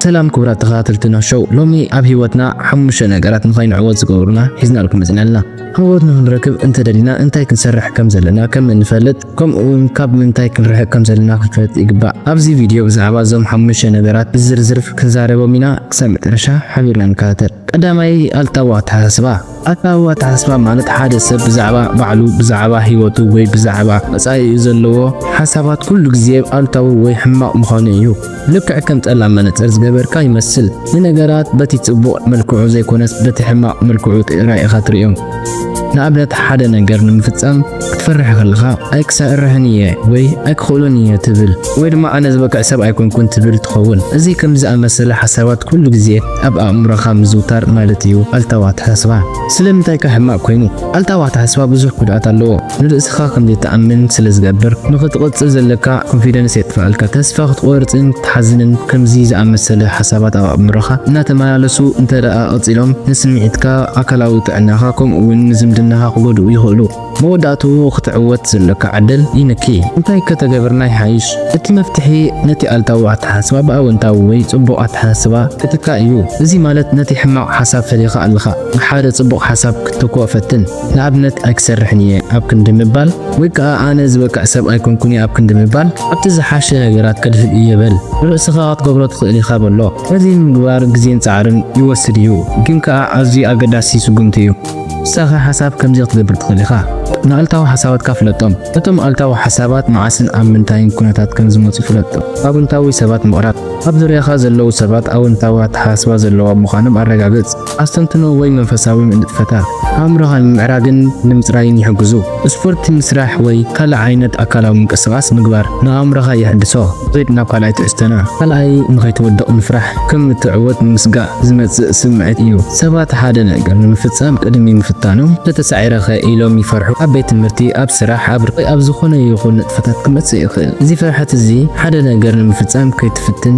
ሰላም ክቡራት ተኸታተልቲ ኖህ ሾው፣ ሎሚ ኣብ ህይወትና ሓሙሽተ ነገራት ንኸይንዕወት ዝገብሩና ሒዝናልኩም መፂና ኣለና። ዓወት ንኽንረክብ እንተደሊና እንታይ ክንሰርሕ ከም ዘለና ከም እንፈልጥ ከምኡ እውን ካብ ምንታይ ክንርሕቅ ከም ዘለና ክንፈልጥ ይግባእ። ኣብዚ ቪድዮ ብዛዕባ እዞም ሓሙሽተ ነገራት ብዝርዝር ክንዛረቦም ኢና። ክሳብ መጨረሻ ሓቢርና ንከታተል። ቀዳማይ ኣልታዊ ኣተሓሳስባ፣ ኣልታዊ ኣተሓሳስባ ማለት ሓደ ሰብ ብዛዕባ ባዕሉ፣ ብዛዕባ ህይወቱ ወይ ብዛዕባ መጻኢኡ ዘለዎ ሓሳባት ኩሉ ግዜ ኣሉታዊ ወይ ሕማቕ ምዃኑ እዩ። ልክዕ ከም ጸላም መነጽር ዝገበርካ ይመስል፣ ንነገራት በቲ ጽቡቕ መልክዑ ዘይኮነስ በቲ ሕማቕ መልክዑ ጥራይ ኢኻ ትርእዮም። ንኣብነት ሓደ ነገር ንምፍጻም ክትፈርሕ ከለኻ ኣይ ክሰርሕን እየ ወይ ኣይ ክኽእሉን እየ ትብል ወይ ድማ ኣነ ዝበቅዕ ሰብ ኣይኮንኩን ትብል ትኸውን። እዚ ከምዚ ዝኣመሰለ ሓሳባት ኩሉ ግዜ ኣብ ኣእምሮኻ ምዝውታር ማለት እዩ ኣልታዊ ኣተሓሳስባ። ስለምንታይ ከ ሕማቕ ኮይኑ? ኣልታዊ ኣተሓሳስባ ብዙሕ ጉድኣት ኣለዎ። ንርእስኻ ከም ዘይትኣምን ስለ ዝገብር፣ ንኽትቕጽል ዘለካ ኮንፊደንስ የጥፍኣልካ፣ ተስፋ ክትቖርጽን ክትሓዝንን ከምዚ ዝኣመሰለ ሓሳባት ኣብ ኣእምሮኻ እናተመላለሱ እንተደኣ ቀጺሎም ንስምዒትካ፣ ኣካላዊ ጥዕናኻ ከምኡ'ውን ንዝምድናኻ ክጎድኡ ይኽእሉ። መወዳእትኡ ክትዕወት ዘሎካ ዕድል ይንኪ። እንታይ ከተገብርና ይሓይሽ? እቲ መፍትሒ ነቲ ኣልታዊ ኣተሓሳስባ ብኣወንታዊ ወይ ጽቡቕ ኣተሓሳስባ ክትካእ እዩ። እዚ ማለት ነቲ ሕማቕ ሓሳብ ፈሊኻ ኣለኻ ብሓደ ጽቡቕ ሓሳብ ክትተክኦ ፈትን። ንኣብነት ኣይክሰርሕን እየ ኣብ ክንዲ ምባል ወይ ከኣ ኣነ ዝበቅዕ ሰብ ኣይኮንኩን እየ ኣብ ክንዲ ምባል ኣብቲ ዝሓሸ ነገራት ከድህብ እየ በል። ንርእስኻ ክትገብሮ ትኽእል ኢኻ በሎ። ነዚ ንምግባር ግዜን ጻዕርን ይወስድ እዩ፣ ግን ከኣ ኣዝዩ ኣገዳሲ ስጉምቲ እዩ። ንስኻ ሓሳብ ከምዚ ክትገብር ትኽእል ኢኻ። ንኣሉታዊ ሓሳባትካ ፍለጦም። እቶም ኣሉታዊ ሓሳባት መዓስን ኣብ ምንታይን ኩነታት ከም ዝመጹ ፍለጥ። ኣውንታዊ ሰባት ምቕራብ። ኣብ ዙርያኻ ዘለዉ ሰባት ኣውንታዊ ኣተሓሳስባ ዘለዎም ምዃኖም ኣረጋግጽ። ኣስተንትኖ ወይ መንፈሳዊ ንጥፈታት ኣእምሮኻ ንምምዕራግን ንምጽራይን ይሕግዙ። ስፖርት ምስራሕ ወይ ካልእ ዓይነት ኣካላዊ ምንቅስቓስ ምግባር ንኣእምሮኻ የሐድሶ። ዜድ ናብ ካልኣይ ትሕዝቶና። ካልኣይ ንኸይትወድቕ ምፍራሕ ከም እትዕወት ምስጋእ ዝመጽእ ስምዒት እዩ። ሰባት ሓደ ነገር ንምፍጻም ቅድሚ ምፍታኖም እንተተሳዒረ'ኸ ኢሎም ይፈርሑ። ኣብ ቤት ትምህርቲ፣ ኣብ ስራሕ፣ ኣብ ርክብ ወይ ኣብ ዝኾነ ይኹን ንጥፈታት ክመጽእ ይኽእል። እዚ ፍርሓት እዚ ሓደ ነገር ንምፍጻም ከይትፍትን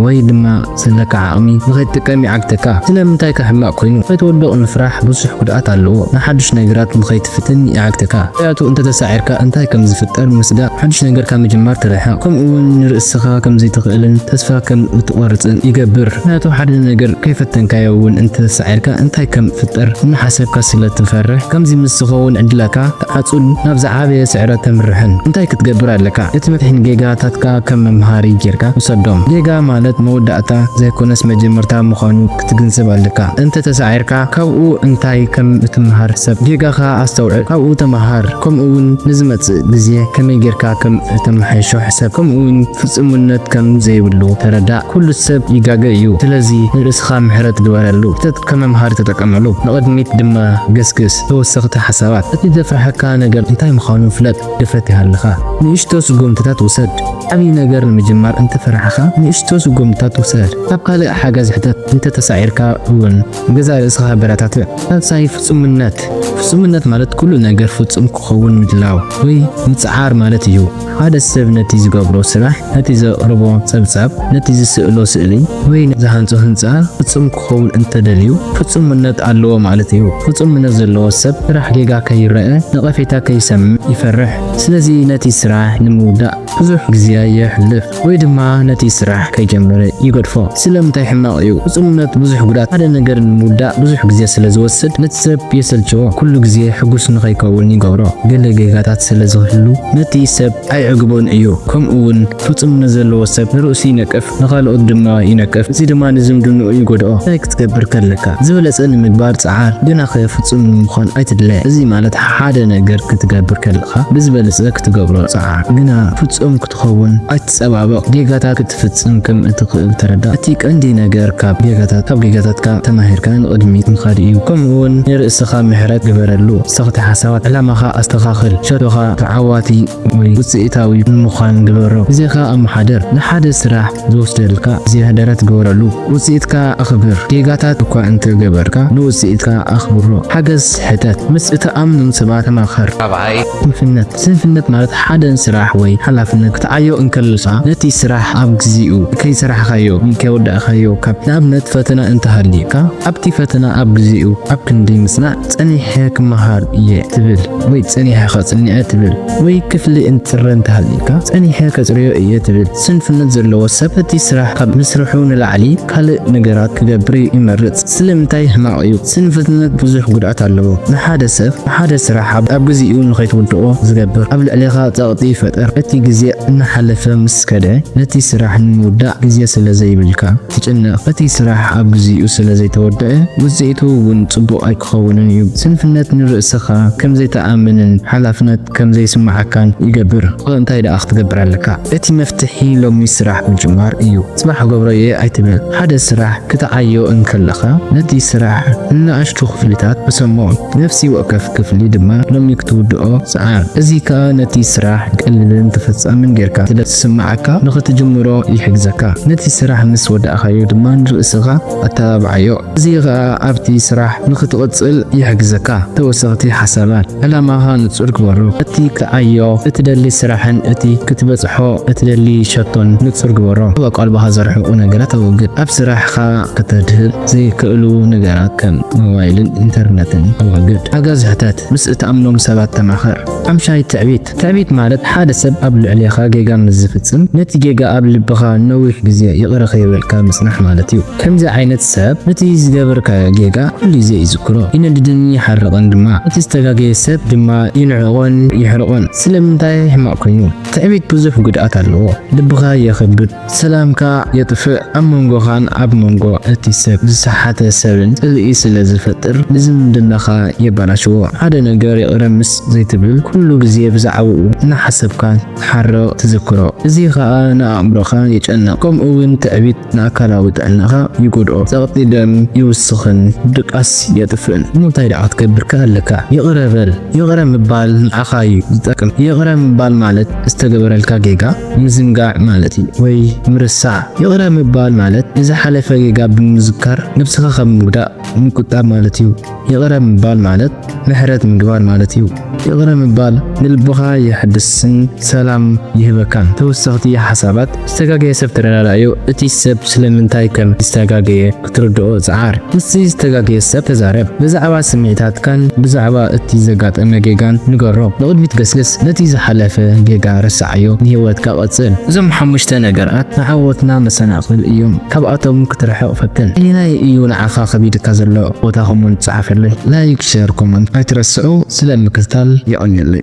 ወይ ድማ ዘለካ ዓቕሚ ንኸይትጥቀም ይዓግተካ። ስለምንታይከ ሕማቕ ኮይኑ? ንኸይትወድቕ ምፍራሕ ብዙሕ ጉድኣት ኣለዎ። ንሓድሽ ነገራት ንኸይትፍትን ይዓግተካ። ምኽንያቱ እንተተሳዒርካ እንታይ ከም ዝፍጠር ምስጋእ ሓድሽ ነገር ካብ ምጅማር ትርሕቕ። ከምኡ'ውን ንርእስኻ ከም ዘይትኽእልን ተስፋ ከም እትቖርጽን ይገብር። ምኽንያቱ ሓደ ነገር ከይፈተንካዮ'ውን እንተተሳዒርካ እንታይ ከም ዝፍጠር እናሓሰብካ ስለ እትፈርሕ። ከምዚ ምስ ዝኸውን ዕድላትካ ሓጹን ናብ ዝዓበየ ስዕረት ተምርሕን እንታይ ክትገብር ኣለካ ነቲ መፍሒን ጌጋታትካ ከም መምሃሪ ጌርካ ውሰዶም ጌጋ ማለት መወዳእታ ዘይኮነስ መጀመርታ ምዃኑ ክትግንዘብ ኣለካ እንተ ተሳዒርካ ካብኡ እንታይ ከም እትምሃር ሰብ ጌጋኻ ኣስተውዕል ካብኡ ተምሃር ከምኡ ውን ንዝመጽእ ግዜ ከመይ ጌርካ ከም እተመሓይሾ ሕሰብ ከምኡ ውን ፍጹምነት ከም ዘይብሉ ተረዳእ ኩሉ ሰብ ይጋገ እዩ ስለዚ ንርእስኻ ምሕረት ግበረሉ ከም መምሃሪ ተጠቀመሉ። ንቕድሚት ድማ ገስግስ። ተወሰኽቲ ሓሳባት፣ እቲ ዘፍርሓካ ነገር እንታይ ምዃኑ ፍለጥ። ድፍረት ይሃልኻ። ንእሽቶ ስጉምትታት ውሰድ። ዓብዪ ነገር ንምጅማር እንተ ፈራሕኻ፣ ንእሽቶ ስጉምትታት ውሰድ። ካብ ካልእ ሓገዝ ሕተት። እንተ ተሳዒርካ እውን ንገዛእ ርእስኻ ኣበረታትዕ። ሳልሳይ፣ ፍጹምነት። ፍጹምነት ማለት ኩሉ ነገር ፍጹም ክኸውን ምድላው ወይ ምጽዓር ማለት እዩ። ሓደ ሰብ ነቲ ዝገብሮ ስራሕ፣ ነቲ ዘቕርቦ ጸብጻብ፣ ነቲ ዝስእሎ ስእሊ ወይ ነቲ ዝሃንጾ ህንጻ ፍጹም ክኸውን እንተ ደልዩ ፍጹምነት ኣለዎ ማለት እዩ። ፍጹምነት ዘለዎ ሰብ ስራሕ ጌጋ ከይረኣ፣ ነቐፌታ ከይሰምዕ ይፈርሕ። ስለዚ ነቲ ስራሕ ንምውዳእ ብዙሕ ግዜ የሕልፍ። ወይ ድማ ነቲ ስራሕ ከይጀመረ ይገድፎ። ስለምንታይ ሕማቕ እዩ? ፍጹምነት ብዙሕ ጉዳት፣ ሓደ ነገር ንምውዳእ ብዙሕ ግዜ ስለ ዝወስድ ነቲ ሰብ የሰልችዎ፣ ኩሉ ግዜ ሕጉስ ንኸይከውን ይገብሮ፣ ገለ ጌጋታት ስለ ዝህሉ ነቲ ሰብ ኣይዕግቦን እዩ። ከምኡውን ፍጹምነት ዘለዎ ሰብ ንርእሱ ይነቅፍ፣ ንኻልኦት ድማ ይነቅፍ፣ እዚ ድማ ንዝምድንኡ ይጎድኦ። እንታይ ክትገብር ከለካ? ዝበለጸ ንምግባር ጽዓር፣ ግናኸ ፍጹም ንምዃን ኣይትድለ። እዚ ማለት ሓደ ነገር ክትገብር ከለኻ ብዝበለጸ ክትገብሮ ጽዓር፣ ግና ፍጹም ክትኸውን ኣይትጸባበቕ። ጌጋታት ክትፍጽም ከም እትኽእል ተረዳእ። እቲ ቀንዲ ነገር ካብ ጌጋታት ካብ ጌጋታትካ ተማሂርካ ንቕድሚት ምኻድ እዩ። ከምኡውን ንርእስኻ ምሕረት ግበረሉ። ሰኽቲ ሓሳባት። ዕላማኻ ኣስተኻኽል። ሸቶኻ ተዓዋቲ ወይ ውጽኢታዊ ንምዃን ግበሮ። ግዜኻ ኣመሓድር። ንሓደ ስራሕ። ዝወስደልካ ዝያህደረት ግበረሉ። ውጽኢትካ ኣኽብር። ጌጋታት እኳ እንተ ገበርካ ንውጽኢትካ ኣኽብሮ። ሓገዝ ሕተት። ምስ እትኣምኖም ሰባት ተማኸር። ራብዓይ፣ ስንፍነት ስንፍነት ማለት ሓደ ስራሕ ወይ ሓላፍነት ክትዓዮ እንከለኻ ነቲ ስራሕ ኣብ ግዜኡ ከይሰራሕካዮ ወይ ከይወዳእካዮ ካብ ንኣብነት ፈተና እንተ ሃልዩካ ኣብቲ ፈተና ኣብ ግዜኡ ኣብ ክንዲ ምጽናዕ ጸኒሐ ክመሃር እየ ትብል ወይ ጸኒሐ ከጽንዐ ትብል ወይ ክፍሊ እንጽረ እንተሃልዩካ ጸኒሐ ከጽርዮ እየ ትብል ስንፍነት ዘለዎ ሰብ እቲ ስራሕ ካብ ምስርሑ ንላዕሊ ካልእ ነገራት ክገብር ይመርጽ። ስለምንታይ ሕማቕ እዩ? ስንፍትነት ብዙሕ ጉድኣት ኣለዎ። ንሓደ ሰብ ንሓደ ስራሕ ኣብ ግዜኡ ንኸይትውድኦ ዝገብር ኣብ ልዕሌኻ ጸቕጢ ይፈጥር። እቲ ግዜ እናሓለፈ ምስ ከደ ነቲ ስራሕ ንምውዳእ ግዜ ስለ ዘይብልካ። ትጭነቕ። እቲ ስራሕ ኣብ ግዚኡ ስለ ዘይተወደኣ ውጽኢቱ እውን ጽቡቕ ኣይክኸውንን እዩ። ስንፍነት ንርእስኻ ከም ዘይትኣምንን ሓላፍነት ከም ዘይስምዓካን ይገብር። እወ እንታይ ደኣ ክትገብር ኣለካ? እቲ መፍትሒ ሎሚ ስራሕ ምጅማር እዩ። ጽባሕ ክገብሮ እየ ኣይትበል። ሓደ ስራሕ ክትዓዮ እንከለኻ ነቲ ስራሕ ንንኣሽቱ ክፍልታት ቅሰሞ። ነፍሲ ወከፍ ክፍሊ ድማ ሎሚ ክትውድኦ ጽዓር። እዚ ከኣ ነቲ ስራሕ ቀሊልን ተፈጻምን ጌርካ ስለ ዝስምዓካ ንኽትጅምሮ ይሕግዘካ። ነቲ ስራሕ ምስ ወዳእካዮ ድማ ንርእስኻ ኣተባብዓዮ። እዚ ኸኣ ኣብቲ ስራሕ ንኽትቕጽል ይሕግዘካ። ተወሰኽቲ ሓሳባት፣ ዕላማኻ ንጹር ግበሮ። እቲ ክዓዮ እትደሊ ስራሕን እቲ ክትበጽሖ እትደሊ ሸቶን ንጹር ግበሮ። ኣብ ኣቃልቦኻ ዘርሕቑ ነገራት ኣወግድ። ኣብ ስራሕካ ከተድህብ ዘይክእሉ ነገራት ከም። ሞባይልን ኢንተርነትን ኣዋግድ። ሓገዝ ሕተት። ምስ እትኣምኖም ሰባት ተማኸር። ሓምሻይ ትዕቢት። ትዕቢት ማለት ሓደ ሰብ ኣብ ልዕሌኻ ጌጋ ምስ ዝፍጽም ነቲ ጌጋ ኣብ ልብኻ ንነዊሕ ግዜ ይቕረ ከይበልካ ምጽናሕ ማለት እዩ። ከምዚ ዓይነት ሰብ ነቲ ዝገበርካዮ ጌጋ ኩሉ ግዜ ይዝክሮ፣ ይነድድን ይሓርቕን ድማ። እቲ ዝተጋገየ ሰብ ድማ ይንዕቖን ይሕርቖን። ስለምንታይ ሕማቕ ኮይኑ? ትዕቢት ብዙሕ ጉድኣት ኣለዎ። ልብኻ የኽብድ። ሰላምካ የጥፍእ ኣብ መንጎኻን ኣብ መንጎ እቲ ሰብ ዝሰሓተ ሰብን ጽልኢ ስለ ዝፈጥር ንዝምድናኻ የባላሽዎ ሓደ ነገር ይቕረ ምስ ዘይትብል ኩሉ ግዜ ብዛዕብኡ እናሓሰብካ ትሓርቕ ትዝክሮ እዚ ኸኣ ንኣእምሮኻ የጨንቕ ከምኡ ውን ትዕቢት ንኣካላዊ ጥዕናኻ ይጎድኦ ጸቕጢ ደም ይውስኽን ድቃስ የጥፍእን እሞ እንታይ ደኣ ክትገብርከ ኣለካ ይቕረ በል ይቕረ ምባል ንዓኻ እዩ ዝጠቅም ይቕረ ምባል ማለት ዝተገበረልካ ጌጋ ምዝንጋዕ ማለት እዩ ወይ ምርሳዕ። ይቕረ ምባል ማለት ንዝሓለፈ ጌጋ ብምዝካር ነብስኻ ካብ ምጉዳእ ምቁጣብ ማለት እዩ። ይቕረ ምባል ማለት ምሕረት ምግባር ማለት እዩ። ይቕረ ምባል ንልብኻ የሐድስን ሰላም ይህበካን። ተወሰኽቲ ሓሳባት፣ ዝተጋገየ ሰብ ተረዳዳእዮ፣ እቲ ሰብ ስለምንታይ ከም ዝተጋገየ ክትርድኦ ጽዓር። ምስቲ ዝተጋገየ ሰብ ተዛረብ። ብዛዕባ ስምዒታትካን ብዛዕባ እቲ ዘጋጠመ ጌጋን ንገሮ። ንቕድሚት ገስግስ፣ ነቲ ዝሓለፈ ጌጋ ረስዓዮ፣ ንህይወትካ ቀጽል። እዞም ሓሙሽተ ነገራት ንዓወትና መሰናኽል እዮም፣ ካብኣቶም ክትርሕቕ ፈትን። ኣየናይ እዩ ንዓኻ ከቢድካ ዘሎ? ቦታ ኮመንት ጽሓፈለይ። ላይክ ሸር ኮመንት ኣይትረስዑ። ስለ ምክትታል የቐንየለይ።